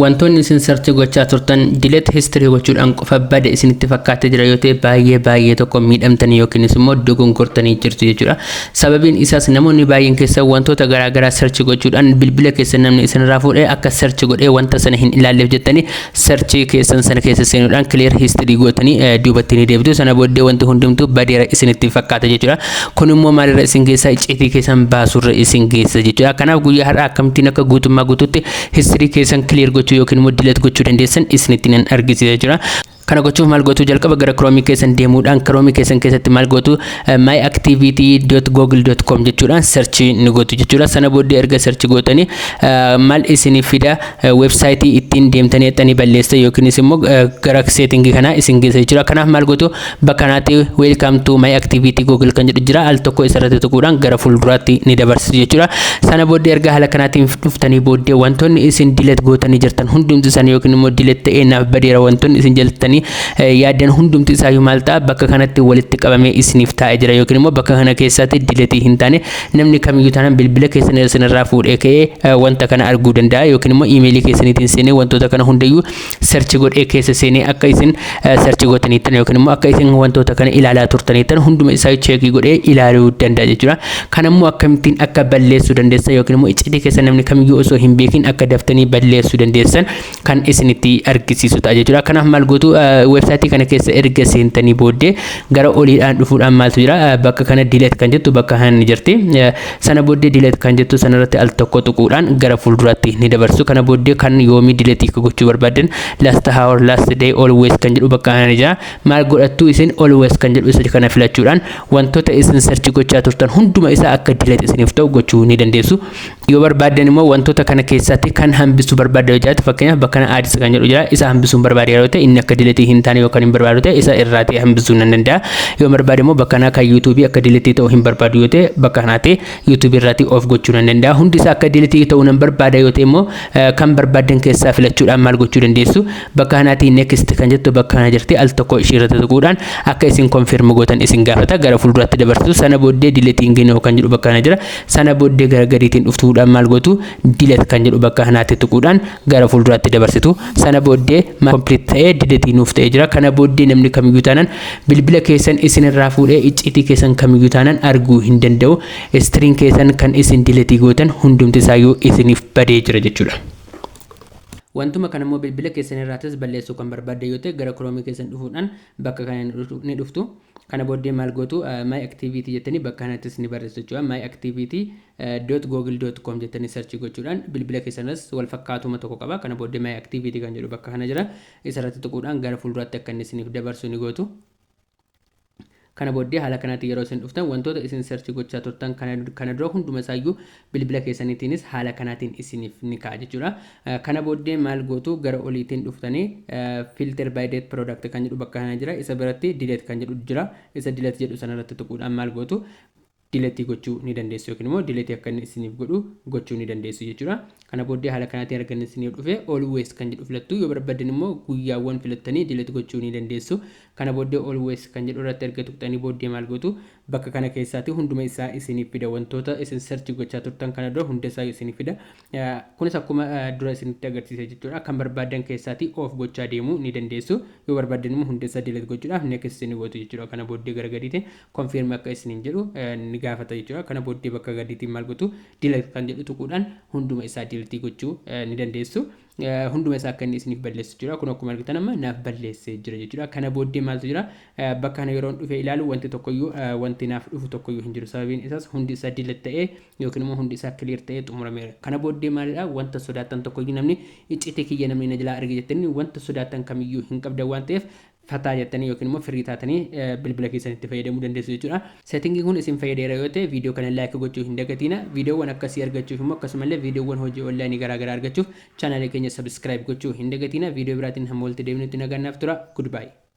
Wantoonni isin search gochaa turtan delete history gochuudhaan qofa bade isinitti fakkaatee jira yoo ta'e baay'ee baay'ee tokko miidhamtanii yookiinis immoo dogongortanii jirtu jechuudha. Sababiin isaas namoonni baay'een keessan wantoota garaa garaa search gochuudhaan bilbila keessan namni isinirraa fuudhee akka search godhee wanta sana hin ilaalleef jettanii search keessan sana keessa seenuudhaan clear history gootanii eh, duubatti ni deebitu. Sana booddee wanti hundumtuu badeera isinitti fakkaata jechuudha. Kun immoo maalirra isin geessa icciitii keessan baasurra isin geessa jechuudha. Kanaaf guyyaa har'aa akkamittiin akka guutummaa guutuutti History keessan clear gochuu yookiin immoo delete gochuu dandeessan isinitti nan argisiisa jira. Kana gochuuf maal gootu jalqaba gara Chrome keessan deemuudhaan Chrome keessan keessatti maal gootu eh, myactivity.google.com jechuudhaan search ni gootu jechuudha. Sana booddee erga search gootanii eh, maal isiniif fida eh, website ittiin deemtanii dhaqxanii balleessan yookiinis immoo eh, gara setting kanaa isin geessa jechuudha. Kanaaf maal gootu Bakka kanatti welcome to my activity google kan jedhu jira al tokko isarratti tuquudhaan gara fuulduraatti ni dabarsitu jechuudha. Sana booddee erga haala kanaatiin dhuftanii booddee wantoonni isin dilet gootanii jirtan hundumti isaanii yookiin immoo dilet ta'ee naaf badeera wantoonni isin jaltanii yaaddan hundumti isaa maal ta'a bakka kanatti walitti qabamee isiniif taa'ee jira yookiin immoo bakka kana keessatti diletii hin taane namni kamiyyuu taanaan bilbila keessan isinirraa fuudhee ka'ee wanta kana arguu danda'a yookiin immoo iimeelii keessaniitiin seenee wantoota kana hundayyuu search godhee keessa seenee akka isin search gootaniittan yookiin immoo akka isin wantoota kana ilaalaa turtaniittan hunduma isaa cheekii godhee ilaaluu danda'a jechuudha. Kan ammoo akkamittiin akka balleessuu dandeessan yookiin immoo iccitii keessa namni kamiyyuu osoo hin beekin akka daftanii balleessuu dandeessan kan isinitti argisiisu ta'a jechuudha. Kanaaf maal gootu weebsaayitii kana keessa erga seentanii booddee gara oliidhaan dhufuudhaan maaltu jira bakka kana diileet kan jettu bakka hanni jirti. Sana booddee delete kan jettu sanarratti al tokko tuquudhaan gara fuulduraatti ni dabarsu. Kana booddee kan yoomii delete akka gochuu barbaaddan last hour, last day, always kan jedhu bakka kana ni jira. Maal godhattu isin always kan jedhu isa kana filachuudhaan wantoota isin search gochaa turtan hunduma isaa akka delete isiniif ta'u gochuu ni dandeessu. Yoo barbaaddan immoo wantoota kana keessaatti kan hambisuu barbaadda yoo jiraate fakkeenyaaf bakka kana ads kan jedhu jira isa hambisuun barbaade yeroo ta'e inni akka delete hin taane yookaan hin barbaadu ta'e isa irraati hambisuu nan danda'a. Yoo barbaade immoo bakka kanaa kan YouTube akka deletii ta'u hin barbaadu yoo ta'e bakka kanaa ta'e YouTube irraatii off gochuu nan danda'a. Hundi isaa akka deletii ta'u nan barbaada yoo ta'e immoo kan barbaaddan keessaa filachuudhaan maal gochuu dandeessu bakka kanaatii next kan jettu bakka kana jirti al tokko ishii irratti tuquudhaan akka isin confirm gootan isin gaafata gara fuulduraatti dabarsitu sana booddee deletiin ginoo kan jedhu bakka kana jira sana booddee gara gadiitiin dhuftuudhaan maal gootu dilet kan jedhu bakka kanaatti tuquudhaan gara fuulduraatti dabarsitu sana booddee complete ta'ee diletii nuuf ta'ee jira kana booddee namni kamiyyuu taanaan Bilbila keessan isin irraa fuudhee icciitii keessan kamiyyuu taanaan arguu hin danda'u. Istiriin keessan kan isin diletii gootan hundumti isaayyuu isiniif badee jira jechuudha. Wantuma kana immoo bilbila keessan irraatis balleessuu kan barbaaddan yoo ta'e gara Chrome keessan dhufuudhaan bakka kana ni dhuftu- ni dhuftu. Kana booddee maal gootu eh, My Activity jettanii bakka kanattis ni barreessu jechuudha. My Activity eh, dot google dot com jettanii search gochuudhaan bilbila keessan irras wal fakkaatuma tokko qaba. Kana booddee My Activity kan jedhu bakka kana jira. Isa irratti tuquudhaan gara fuulduraatti akka inni isiniif dabarsu ni gootu. Kana booddee haala kanaatiin yeroo isin dhuftan wantoota isin search gochaa turtan kana kana dura hunduma isaa iyyuu bilbila keessaniitiinis haala kanaatiin isiniif ni ka'a jechuudha. Eh, Kana booddee maal gootu gara oliitiin dhuftanii eh, filter by date product kan jedhu bakka kana jira isa biratti delete kan jedhu jira isa delete jedhu sana irratti tuquudhaan maal gootu delete gochuu ni dandeessu yookiin immoo delete akka inni isiniif godhu gochuu ni dandeessu jechuudha. Kana booddee haala kanaatiin arganni isin yoo dhufe always kan jedhu filattu yoo barbaddan immoo guyyaawwan filattanii delete gochuu ni dandeessu. Kana booddee always kan jedhu irratti erga tuqxanii booddee maal gootu bakka kana keessaati hunduma isaa isiniif fida wantoota isin search gochaa turtan kana dura hunda isaayu isiniif fida. Kunis akkuma dura isinitti agarsiise jechuudha. Kan barbaaddan keessaatii off gochaa deemuu ni dandeessu. Yoo barbaaddan immoo hunda isaa delete gochuudhaaf next isin gootu jechuudha. Kana booddee gara gadiitiin confirm akka isiniin jedhu ni gaafata jechuudha. Kana booddee bakka gadiitiin maal gootu delete kan jedhu tuquudhaan hunduma isaa delete gochuu ni dandeessu. Hunduma isaa akka inni isiniif balleessu jechuudha. Kun akkuma argitan amma naaf balleessee jira jechuudha. Kana booddee maaltu jira? Bakka kana yeroon dhufee ilaalu wanti tokkoyyuu wanti naaf dhufu tokkoyyuu hin jiru. Sababiin isaas hundi isaa delete ta'ee Yookiin immoo hundi isaa clear ta'ee xumurameera. Kana booddee maalidha wanta sodaattan tokkoyyuu namni icciitii kiyya namni na jalaa arge jettanii wanta sodaattan kamiyyuu hin qabdan waan ta'eef fataa jettanii yookiin immoo firii taatanii bilbila keessanitti fayyadamuu dandeessu jechuudha. Setting kun isin fayyadeera yoo ta'e video kana like gochuu hin dagatiina. Videowwan akkasii argachuuf immoo akkasumallee videowwan hojii online garaagaraa argachuuf channel keenya subscribe gochuu hin dagatiina. Video biraatiin hamma walitti deebinutti nagaan naaf tura. Goodbye.